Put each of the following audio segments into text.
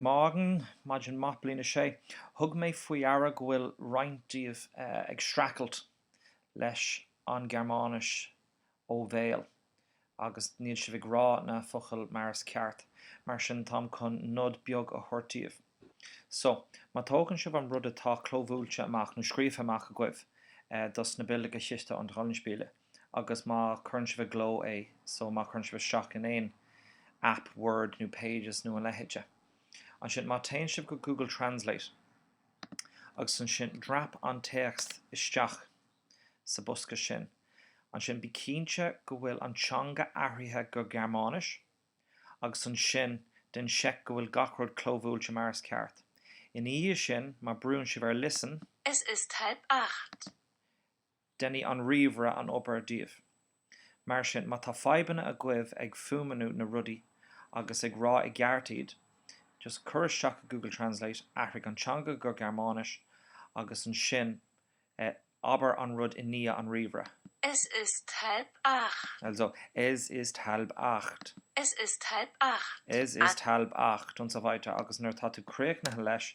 Morgen, maidin maith, Bliain 6, thug mé faoi deara go bhfuil roinnt díbh ag streacailt leis an Gearmáinis ó bhéal agus níl sibh ag rá na focail mar is ceart, mar sin táim chun nod beag a thabhairt daoibh. So, má tógann sibh an rud atá clóbhuailte amach nó scríofa amach agaibh dos na Bildergeschichte und Rollenspiele, agus má chuireann sibh i gcló é, so má chuireann sibh isteach in aon aip, Word nó Pages nó a leithéide, ansin má téann sibh go Google Translate agus ansin drop an téacs isteach sa bosca sin, ansin bí cinnte go bhfuil an teanga athraithe go Gearmáinis agus ansin déan seic go bhfuil gach rud clóbhuailte mar is ceart. Ina dhiaidh sin, má brúann sibh ar Listen, Es ist halb acht. Déanann an ríomhaire an obair daoibh. Mar sin, má tá fadhbanna agaibh ag fuaimniú na rudaí agus ag rá i gceart iad, just cuir isteach i Google Translate, athraigh an teanga go Gearmáinis agus ansin abair an rud i ndiaidh an ríomhaire. Es ist halb acht. Also, Es ist halb acht. Es ist halb acht. Es ist halb acht und so weiter agus nuair atá tú críochnaithe leis,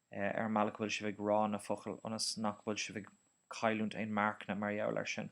Eh, ar an mbealach a bhfuil sibh ag rá na focail ionas nach bhfuil sibh ag cailliúint aon marcanna mar gheall air sin.